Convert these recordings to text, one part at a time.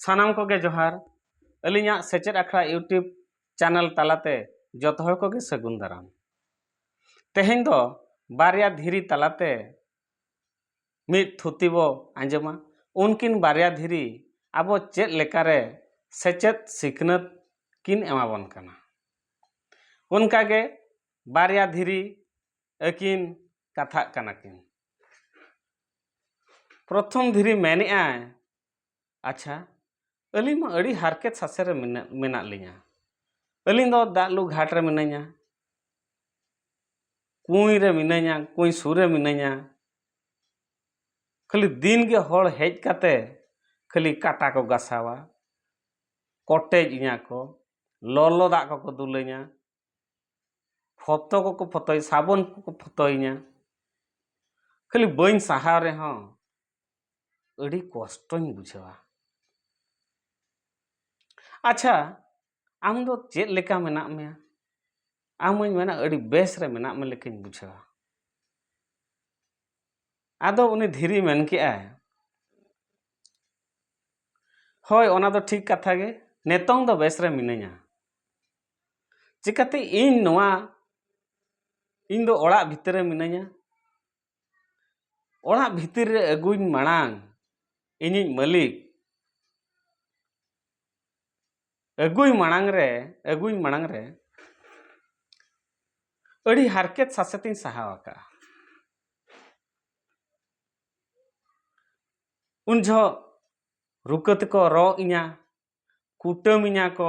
ᱥᱟᱱᱟᱢ ᱠᱚᱜᱮ ᱡᱚᱦᱟᱨ ᱟᱹᱞᱤᱧᱟᱜ ᱥᱮᱪᱮᱫ ᱟᱠᱷᱲᱟ ᱤᱭᱩᱴᱩᱵᱽ ᱪᱮᱱᱮᱞ ᱛᱟᱞᱟᱛᱮ ᱡᱚᱛᱚ ᱦᱚᱲ ᱠᱚᱜᱮ ᱥᱟᱹᱜᱩᱱ ᱫᱟᱨᱟᱢ ᱛᱮᱦᱮᱧ ᱫᱚ ᱵᱟᱨᱭᱟ ᱫᱷᱤᱨᱤ ᱛᱟᱞᱟᱛᱮ ᱢᱤᱫ ᱛᱷᱩᱛᱤ ᱵᱚ ᱟᱸᱡᱚᱢᱟ ᱩᱱᱠᱤᱱ ᱵᱟᱨᱭᱟ ᱫᱷᱤᱨᱤ ᱟᱵᱚ ᱪᱮᱫ ᱞᱮᱠᱟᱨᱮ ᱥᱮᱪᱮᱫ ᱥᱤᱠᱷᱱᱟᱹᱛ ᱠᱤᱱ ᱮᱢᱟᱵᱚᱱ ᱠᱟᱱᱟ ᱚᱱᱠᱟᱜᱮ ᱵᱟᱨᱭᱟ ᱫᱷᱤᱨᱤ ᱟᱹᱠᱤᱱ ᱠᱟᱛᱷᱟᱜ ᱠᱟᱱᱟ ᱠᱤᱱ ᱯᱨᱚᱛᱷᱚᱢ ᱫᱷᱤᱨᱤ ᱢᱮᱱᱮᱜᱼᱟᱭ ᱟᱪᱪᱷᱟ ᱟᱹᱞᱤᱧ ᱢᱟ ᱟᱹᱰᱤ ᱦᱟᱨᱠᱮᱛ ᱥᱟᱥᱮᱛ ᱨᱮ ᱢᱮᱱᱟᱜ ᱢᱮᱱᱟᱜ ᱞᱤᱧᱟᱹ ᱟᱹᱞᱤᱧ ᱫᱚ ᱫᱟᱜ ᱞᱩ ᱜᱷᱟᱴ ᱨᱮ ᱢᱤᱱᱟᱹᱧᱟ ᱠᱩᱸᱭ ᱨᱮ ᱢᱤᱱᱟᱹᱧᱟ ᱠᱩᱸᱭ ᱥᱩᱨ ᱨᱮ ᱢᱤᱱᱟᱹᱧᱟ ᱠᱷᱟᱹᱞᱤ ᱫᱤᱱ ᱜᱮ ᱦᱚᱲ ᱦᱮᱡ ᱠᱟᱛᱮ ᱠᱷᱟᱹᱞᱤ ᱠᱟᱴᱟ ᱠᱚ ᱜᱟᱥᱟᱣᱟ ᱠᱚᱴᱮᱡ ᱤᱧᱟᱹ ᱠᱚ ᱞᱚᱞᱚ ᱫᱟᱜ ᱠᱚᱠᱚ ᱫᱩᱞᱟᱹᱧᱟ ᱯᱷᱚᱛᱚ ᱠᱚᱠᱚ ᱯᱷᱚᱛᱚᱭ ᱥᱟᱵᱚᱱ ᱠᱚᱠᱚ ᱯᱷᱚᱛᱚᱭᱤᱧᱟ ᱠᱷᱟᱹᱞᱤ ᱵᱟᱹᱧ ᱥᱟᱦᱟᱣ ᱨᱮᱦᱚᱸ ᱟᱹᱰᱤ ᱠᱚᱥᱴᱚᱧ ᱵᱩᱡᱷᱟᱹᱣᱟ ᱟᱪᱪᱷᱟ ᱟᱢ ᱫᱚ ᱪᱮᱫ ᱞᱮᱠᱟ ᱢᱮᱱᱟᱜ ᱢᱮᱭᱟ ᱟᱢ ᱦᱚᱧ ᱢᱮᱱᱟ ᱟᱹᱰᱤ ᱵᱮᱥ ᱨᱮ ᱢᱮᱱᱟᱜ ᱢᱮ ᱞᱮᱠᱟᱧ ᱵᱩᱡᱷᱟᱹᱣᱟ ᱟᱫᱚ ᱩᱱᱤ ᱫᱷᱤᱨᱤ ᱢᱮᱱ ᱠᱮᱜᱼᱟᱭ ᱦᱳᱭ ᱚᱱᱟ ᱫᱚ ᱴᱷᱤᱠ ᱠᱟᱛᱷᱟ ᱜᱮ ᱱᱤᱛᱚᱝ ᱫᱚ ᱵᱮᱥ ᱨᱮ ᱢᱤᱱᱟᱹᱧᱟ ᱪᱤᱠᱟᱹᱛᱮ ᱤᱧ ᱱᱚᱣᱟ ᱤᱧ ᱫᱚ ᱚᱲᱟᱜ ᱵᱷᱤᱛᱤᱨ ᱨᱮ ᱢᱤᱱᱟᱹᱧᱟ ᱚᱲᱟᱜ ᱵᱷᱤᱛᱤᱨ ᱨᱮ ᱟᱹᱜᱩᱧ ᱢᱟᱲᱟᱝ ᱤᱧᱤᱡ ᱢᱟᱹᱞᱤᱠ ᱟᱹᱜᱩᱭ ᱢᱟᱲᱟᱝ ᱨᱮ ᱟᱹᱜᱩᱧ ᱢᱟᱲᱟᱝ ᱨᱮ ᱟᱹᱰᱤ ᱦᱟᱨᱠᱮᱛ ᱥᱟᱥᱮᱛᱤᱧ ᱥᱟᱦᱟᱣ ᱟᱠᱟᱫᱼᱟ ᱩᱱ ᱡᱚᱦᱚᱜ ᱨᱩᱠᱟᱹ ᱛᱮᱠᱚ ᱨᱚᱜ ᱤᱧᱟ ᱠᱩᱴᱟᱹᱢᱤᱧᱟ ᱠᱚ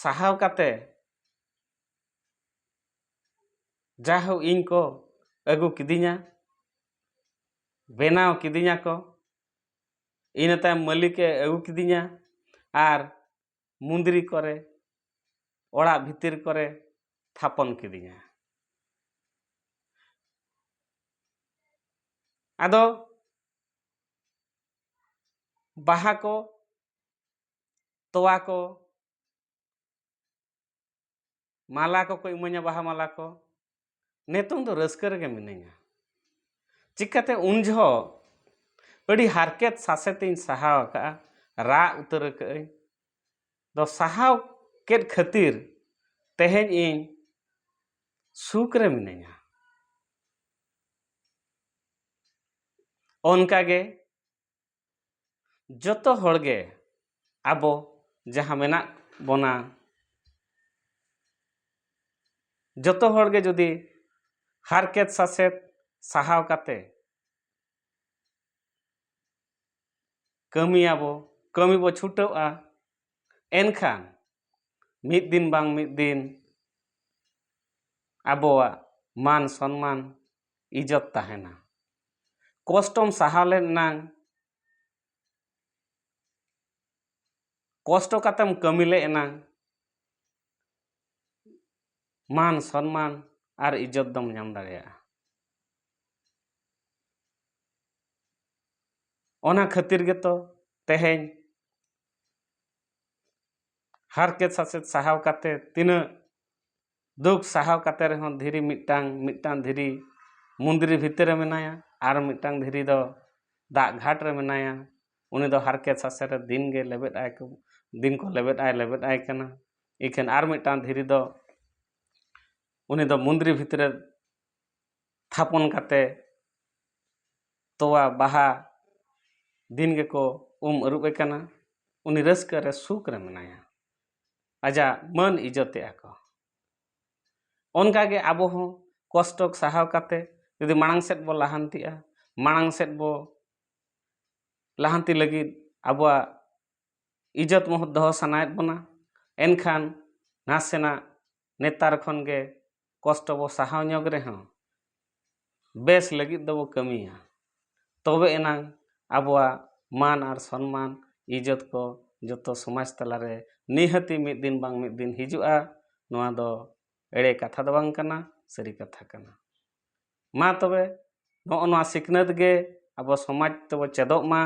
ᱥᱟᱦᱟᱣ ᱠᱟᱛᱮ ᱡᱟᱦᱳ ᱤᱧ ᱠᱚ ᱟᱹᱜᱩ ᱠᱤᱫᱤᱧᱟ ᱵᱮᱱᱟᱣ ᱠᱤᱫᱤᱧᱟ ᱠᱚ ᱤᱱᱟᱹ ᱛᱟᱭᱚᱢ ᱢᱟᱹᱞᱤᱠᱮ ᱟᱹᱜᱩ ᱠᱤᱫᱤᱧᱟ ᱟᱨ ᱢᱩᱸᱫᱽᱨᱤ ᱠᱚᱨᱮ ᱚᱲᱟᱜ ᱵᱷᱤᱛᱤᱨ ᱠᱚᱨᱮ ᱛᱷᱟᱯᱚᱱ ᱠᱤᱫᱤᱧᱟ ᱟᱫᱚ ᱵᱟᱦᱟ ᱠᱚ ᱛᱚᱣᱟ ᱠᱚ ᱢᱟᱞᱟ ᱠᱚᱠᱚ ᱤᱢᱟᱹᱧᱟ ᱵᱟᱦᱟ ᱢᱟᱞᱟ ᱠᱚ ᱱᱤᱛᱚᱝ ᱫᱚ ᱨᱟᱹᱥᱠᱟᱹ ᱨᱮᱜᱮ ᱢᱤᱱᱟᱹᱧᱟ ᱪᱤᱠᱟᱹᱛᱮ ᱩᱱ ᱡᱚᱦᱚᱜ ᱟᱹᱰᱤ ᱦᱟᱨᱠᱮᱛ ᱥᱟᱥᱮᱛᱤᱧ ᱥᱟᱦᱟᱣ ᱟᱠᱟᱫᱼᱟ ᱨᱟᱜ ᱩᱛᱟᱹᱨ ᱟᱠᱟᱫᱼᱟᱹᱧ ᱫᱚ ᱥᱟᱦᱟᱣ ᱠᱮᱫ ᱠᱷᱟᱹᱛᱤᱨ ᱛᱮᱦᱮᱧ ᱤᱧ ᱥᱩᱠ ᱨᱮ ᱢᱤᱱᱟᱹᱧᱟ ᱚᱱᱠᱟᱜᱮ ᱡᱚᱛᱚ ᱦᱚᱲ ᱜᱮ ᱟᱵᱚ ᱡᱟᱦᱟᱸ ᱢᱮᱱᱟᱜ ᱵᱚᱱᱟ ᱡᱚᱛᱚ ᱦᱚᱲ ᱜᱮ ᱡᱩᱫᱤ ᱦᱟᱨᱠᱮᱛ ᱥᱟᱥᱮᱛ ᱥᱟᱦᱟᱣ ᱠᱟᱛᱮ ᱠᱟᱹᱢᱤᱭᱟᱵᱚ ᱠᱟᱹᱢᱤ ᱵᱚ ᱪᱷᱩᱴᱟᱹᱜᱼᱟ ᱮᱱᱠᱷᱟᱱ ᱢᱤᱫ ᱫᱤᱱ ᱵᱟᱝ ᱢᱤᱫ ᱫᱤᱱ ᱟᱵᱚᱣᱟᱜ ᱢᱟᱱ ᱥᱚᱱᱢᱟᱱ ᱤᱡᱚᱛ ᱛᱟᱦᱮᱱᱟ ᱠᱚᱥᱴᱚᱢ ᱥᱟᱦᱟᱣ ᱞᱮᱱ ᱮᱱᱟᱝ ᱠᱚᱥᱴᱚ ᱠᱟᱛᱮᱢ ᱠᱟᱹᱢᱤ ᱞᱮ ᱮᱱᱟᱝ ᱢᱟᱱ ᱥᱚᱱᱢᱟᱱ ᱟᱨ ᱤᱡᱚᱛ ᱫᱚᱢ ᱧᱟᱢ ᱫᱟᱲᱮᱭᱟᱜᱼᱟ ᱚᱱᱟ ᱠᱷᱟᱹᱛᱤᱨ ᱜᱮᱛᱚ ᱛᱮᱦᱮᱧ ᱦᱟᱨᱠᱮᱛ ᱥᱟᱥᱮᱛ ᱥᱟᱦᱟᱣ ᱠᱟᱛᱮ ᱛᱤᱱᱟᱹᱜ ᱫᱩᱠ ᱥᱟᱦᱟᱣ ᱠᱟᱛᱮ ᱨᱮᱦᱚᱸ ᱫᱷᱤᱨᱤ ᱢᱤᱫᱴᱟᱝ ᱢᱤᱫᱴᱟᱝ ᱫᱷᱤᱨᱤ ᱢᱚᱱᱫᱤᱨ ᱵᱷᱤᱛᱤᱨ ᱨᱮ ᱢᱮᱱᱟᱭᱟ ᱟᱨ ᱢᱤᱫᱴᱟᱝ ᱫᱷᱤᱨᱤ ᱫᱚ ᱫᱟᱜ ᱜᱷᱟᱴ ᱨᱮ ᱢᱮᱱᱟᱭᱟ ᱩᱱᱤ ᱫᱚ ᱦᱟᱨᱠᱮᱛ ᱥᱟᱥᱮᱛ ᱨᱮ ᱫᱤᱱ ᱜᱮ ᱞᱮᱵᱮᱫ ᱟᱭ ᱠᱚ ᱫᱤᱱ ᱠᱚ ᱞᱮᱵᱮᱫ ᱟᱭ ᱞᱮᱵᱮᱫ ᱟᱭ ᱠᱟᱱᱟ ᱤᱠᱷᱟᱹᱱ ᱟᱨ ᱢᱤᱫᱴᱟᱝ ᱫᱷᱤᱨᱤ ᱫᱚ ᱩᱱᱤ ᱫᱚ ᱢᱚᱱᱫᱤᱨ ᱵᱷᱤᱛᱤᱨ ᱨᱮ ᱛᱷᱟᱯᱚᱱ ᱠᱟᱛᱮ ᱛᱚᱣᱟ ᱵᱟᱦᱟ ᱫᱤᱱ ᱜᱮᱠᱚ ᱩᱢ ᱟᱹᱨᱩᱵᱮ ᱠᱟᱱᱟ ᱩᱱᱤ ᱨᱟᱹᱥᱠᱟᱹ ᱨᱮ ᱥᱩᱠ ᱨᱮ ᱢᱮᱱᱟᱭᱟ ᱟᱡᱟᱜ ᱢᱟᱹᱱ ᱤᱡᱚᱛ ᱮᱫᱼᱟ ᱠᱚ ᱚᱱᱠᱟ ᱜᱮ ᱟᱵᱚ ᱦᱚᱸ ᱠᱚᱥᱴᱚ ᱥᱟᱦᱟᱣ ᱠᱟᱛᱮ ᱡᱩᱫᱤ ᱢᱟᱲᱟᱝ ᱥᱮᱫ ᱵᱚ ᱞᱟᱦᱟᱱᱛᱤᱜᱼᱟ ᱢᱟᱲᱟᱝ ᱥᱮᱫ ᱵᱚ ᱞᱟᱦᱟᱱᱛᱤ ᱞᱟᱹᱜᱤᱫ ᱟᱵᱚᱣᱟᱜ ᱤᱡᱚᱛ ᱢᱚᱦᱚᱛ ᱫᱚᱦᱚ ᱥᱟᱱᱟᱭᱮᱫ ᱵᱚᱱᱟ ᱮᱱᱠᱷᱟᱱ ᱱᱟᱥᱮᱱᱟᱜ ᱱᱮᱛᱟᱨ ᱠᱷᱚᱱ ᱜᱮ ᱠᱚᱥᱴᱚ ᱵᱚ ᱥᱟᱦᱟᱣ ᱧᱚᱜᱽ ᱨᱮᱦᱚᱸ ᱵᱮᱥ ᱞᱟᱹᱜᱤᱫ ᱫᱚᱵᱚ ᱠᱟᱹᱢᱤᱭᱟ ᱛᱚᱵᱮ ᱮᱱᱟᱝ ᱟᱵᱚᱣᱟᱜ ᱢᱟᱱ ᱟᱨ ᱥᱚᱱᱢᱟᱱ ᱤᱡᱽᱡᱚᱛ ᱠᱚ ᱡᱚᱛᱚ ᱥᱚᱢᱟᱡᱽ ᱛᱟᱞᱟ ᱨᱮ ᱱᱤᱦᱟᱹᱛᱤ ᱢᱤᱫ ᱫᱤᱱ ᱵᱟᱝ ᱢᱤᱫ ᱫᱤᱱ ᱦᱤᱡᱩᱜᱼᱟ ᱱᱚᱣᱟ ᱫᱚ ᱮᱲᱮ ᱠᱟᱛᱷᱟ ᱫᱚ ᱵᱟᱝ ᱠᱟᱱᱟ ᱥᱟᱹᱨᱤ ᱠᱟᱛᱷᱟ ᱠᱟᱱᱟ ᱢᱟ ᱛᱚᱵᱮ ᱱᱚᱜᱼᱚ ᱱᱚᱣᱟ ᱥᱤᱠᱷᱱᱟᱹᱛ ᱜᱮ ᱟᱵᱚ ᱥᱚᱢᱟᱡᱽ ᱛᱮᱵᱚ ᱪᱮᱫᱚᱜ ᱢᱟ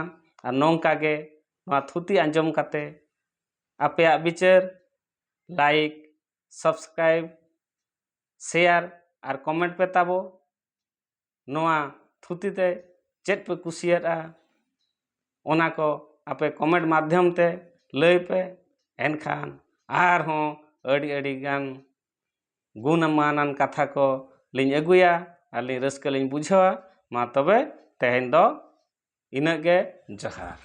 ᱟᱨ ᱱᱚᱝᱠᱟ ᱜᱮ ᱱᱚᱣᱟ ᱛᱷᱩᱛᱤ ᱟᱸᱡᱚᱢ ᱠᱟᱛᱮᱫ ᱟᱯᱮᱭᱟᱜ ᱵᱤᱪᱟᱹᱨ ᱞᱟᱭᱤᱠ ᱥᱟᱵᱥᱠᱨᱟᱭᱤᱵᱽ ᱥᱮᱭᱟᱨ ᱟᱨ ᱠᱚᱢᱮᱱᱴ ᱯᱮ ᱛᱟᱵᱚ ᱱᱚᱣᱟ ᱛᱷᱩᱛᱤ ᱛᱮ ᱪᱮᱫ ᱯᱮ ᱠᱩᱥᱤᱭᱟᱫᱼᱟ ᱚᱱᱟ ᱠᱚ ᱟᱯᱮ ᱠᱚᱢᱮᱱᱴ ᱢᱟᱫᱽᱫᱷᱚᱢ ᱛᱮ ᱞᱟᱹᱭ ᱯᱮ ᱮᱱᱠᱷᱟᱱ ᱟᱨᱦᱚᱸ ᱟᱹᱰᱤ ᱟᱹᱰᱤ ᱜᱟᱱ ᱜᱩᱱᱢᱟᱱᱟᱱ ᱠᱟᱛᱷᱟ ᱠᱚ ᱞᱤᱧ ᱟᱹᱜᱩᱭᱟ ᱟᱨ ᱞᱤᱧ ᱨᱟᱹᱥᱠᱟᱹ ᱞᱤᱧ ᱵᱩᱡᱷᱟᱹᱣᱟ ᱢᱟ ᱛᱚᱵᱮ ᱛᱮᱦᱮᱧ ᱫᱚ ᱤᱱᱟᱹᱜ ᱜᱮ ᱡᱚᱦᱟᱨ